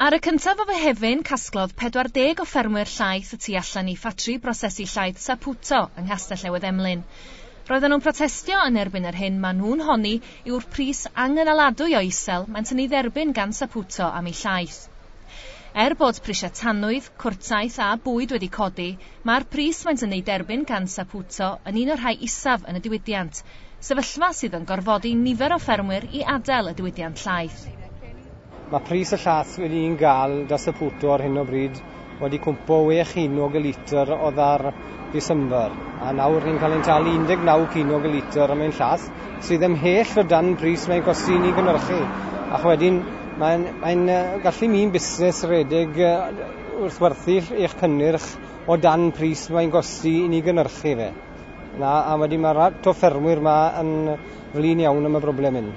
Ar y cyntaf o Fehefin, casglodd 40 o ffermwyr llaeth y tu allan i ffatri brosesu llaeth Saputo yng Nghastell Newydd Emlyn. Roedden nhw'n protestio yn erbyn yr hyn maen nhw'n honni yw'r pris angynaladwy o isel maent yn ei dderbyn gan Saputo am ei llaeth. Er bod prisiau tanwydd, cwrtaeth a bwyd wedi codi, Mae'r pris maent yn ei derbyn gan Saputo yn un o'r rhai isaf yn y diwydiant, sefyllfa sydd yn gorfodi nifer o ffermwyr i adael y diwydiant llaeth. Mae pris y llaeth wedi i'n gael da Saputo ar hyn o bryd wedi cwmpo wê chinog y litr odda'r Ddisember, a nawr ni'n cael ein talu 19 cinog y litr am ein llaeth, sydd ymhell o dan bris mae'n costi i ni gynhyrchu, ac wedyn mae'n mae'n gallu mi'n busnes redeg wrth werthu eich cynnyrch o dan pris mae'n gosti i ni gynhyrchu fe. Na, a wedyn mae'r rhai to ffermwyr yma yn flin iawn am y broblem hyn.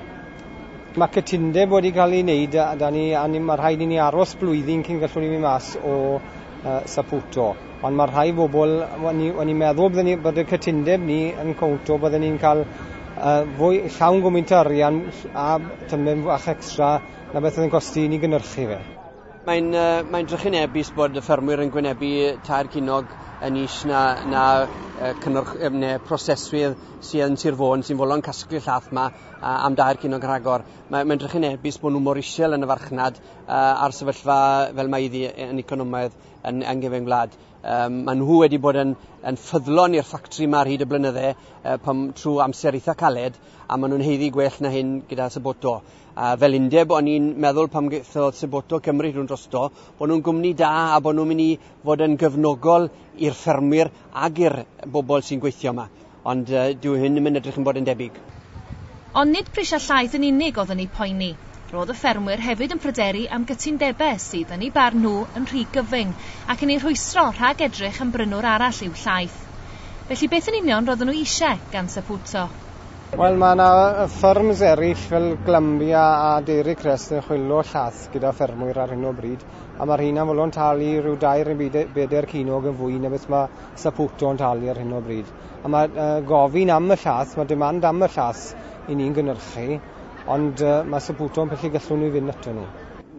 Mae cytundeb wedi cael ei wneud a, da ni, a ni, mae rhaid i ni aros blwyddyn cyn gallwn ni mynd mas o uh, Saputo. Ond mae rhai bobl, o'n i, o'n i meddwl bydden ni, bod y cytundeb ni yn cwnto bydden ni'n cael uh, fwy llawn gwmynt o arian a tymed fach extra na beth oedd yn gosti i ni gynhyrchu fe. Mae'n mae'n drychinebus bod y ffermwyr yn gwynebu tair cinog yn is na, na cynnwrch, neu proseswydd sydd yn Sir Fôn sy'n fwlon casglu llath yma am dair cinog rhagor. Mae'n mae drychinebus bod nhw mor isel yn y farchnad a'r sefyllfa fel mae iddi yn economaidd yn, yng Nghyfeng Wlad. Um, mae nhw wedi bod yn, yn ffyddlon i'r ffactri yma ar hyd y blynydde uh, pam, trwy amser eitha caled a maen nhw'n heiddi gwell na hyn gyda Saboto. A fel undeb, o'n i'n meddwl pam gaethodd Seboto cymryd nhw'n drosto, bod nhw'n gwmni da a bod nhw'n mynd i fod yn gefnogol i'r ffermwyr ac i'r bobl sy'n gweithio yma. Ond uh, dyw hyn ddim yn edrych yn bod yn debyg. Ond nid prisiau llaeth yn unig oedd yn eu poeni. Roedd y ffermwyr hefyd yn pryderu am gytundebau sydd, yn eu barn nhw, yn rhy gyfyng ac yn eu rhwystro rhag edrych am brynwr arall i'w llaeth. Felly beth yn union roedden nhw eisiau gan Saputo? Wel, mae yna fferms eraill fel Glanbia a Dairy Crest yn chwilio llath gyda ffermwyr ar hyn o bryd, a mae'r rheina'n fodlon talu rhyw dair neu bedair cinog yn fwy na beth mae Saputo yn talu ar hyn o bryd. A mae gofyn am y llath, mae demand am y llath i ni'n gynhyrchu, ond mae Saputo yn pyllu gallwn ni fynd ato nhw.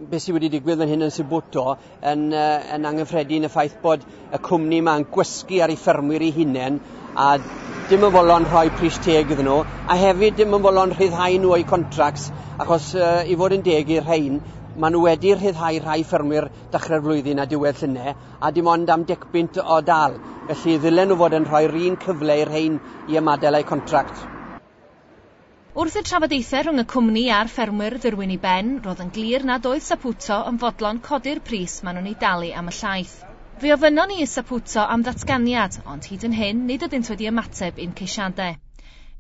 Beth sydd wedi digwydd fan hyn yn Saputo Yn, yn angyffredin y ffaith bod y cwmni yma'n gwysgu ar ei ffermwyr ei hunain a dim yn fodlon rhoi pris teg iddyn nhw, a hefyd dim yn fodlon rhyddhau nhw o'u contracts, achos uh, i fod yn deg i'r rhain, maen nhw wedi rhyddhau rhai ffermwyr dechrau'r flwyddyn a diwedd llynau, a dim ond am decbynt o dal, felly ddylen nhw fod yn rhoi'r un cyfle i'r rhain i ymadael a'u contract. Wrth i'r trafodaethau rhwng y cwmni a'r ffermwyr ddwyrwyn i ben, roedd yn glir nad oedd Saputo yn fodlon codi'r pris maen nhw'n ei dalu am y llaeth. Fe ofynnon ni i Saputo am ddatganiad, ond hyd yn hyn nid ydynt wedi ymateb i'n ceisiadau.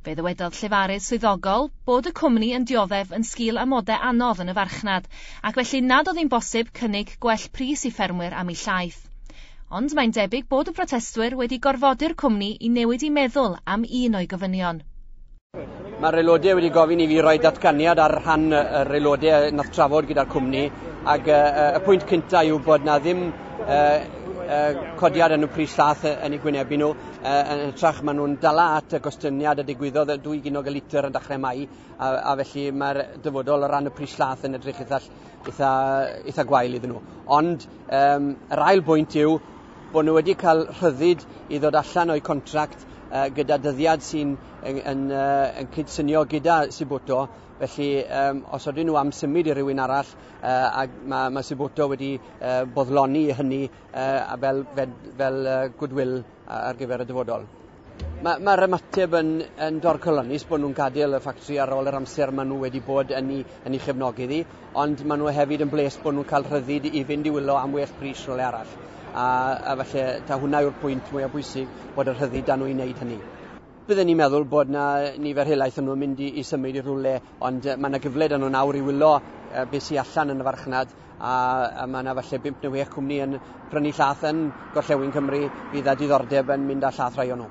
Fe ddywedodd llefarydd swyddogol bod y cwmni yn dioddef yn sgil amodau anodd yn y farchnad, ac felly nad oedd hi'n bosib cynnig gwell pris i ffermwyr am eu llaeth. Ond mae'n debyg bod y protestwyr wedi gorfodi'r cwmni i newid ei meddwl am un o'i gofynion. Mae'r aelodau wedi gofyn i fi roi datganiad ar rhan yr aelodau nath trafod gyda'r cwmni ac uh, y pwynt cyntaf yw bod na ddim uh, uh, codiad yn y pris llath yn ei gwynebu nhw. Uh, yn hytrach maen nhw'n dala at y gostyngiad y digwyddodd y dwy ginog y litr yn dechrau mai a, a felly mae'r dyfodol o ran y pris llath yn edrych eitha, eitha, eitha gwael iddyn nhw. Ond um, yr ail bwynt yw Bod nhw wedi cael rhyddid i ddod allan o'u contract gyda dyddiad sy'n yn, yn, yn cydsynio gyda Sibuto, felly um, os oedden nhw am symud i rywun arall, uh, a mae, mae Sibuto wedi uh, boddloni hynny uh, fel, fel, fel uh, goodwill ar gyfer y dyfodol. Mae, mae'r ymateb yn, yn dorcalonnus bod nhw'n gadael y ffactri ar ôl yr amser maen nhw wedi bod yn ei, yn ei chefnogi ddi, ond maen nhw hefyd yn bles bod nhw'n cael rhyddid i fynd i wylo am well pris rhywle arall. A, a falle, ta hwnna yw'r pwynt mwyaf bwysig, bod y rhyddid dan nhw i wneud hynny. Bydden ni'n meddwl bod na nifer helaeth yn nhw'n mynd i, i symud i rhywle, ond mae yna gyfle dan nhw nawr i wylo beth sy'n allan yn y farchnad a mae yna falle bimp neu wech cwmni yn prynu llath yn gorllewin Cymru fydd â diddordeb yn mynd â llath rhai o nhw.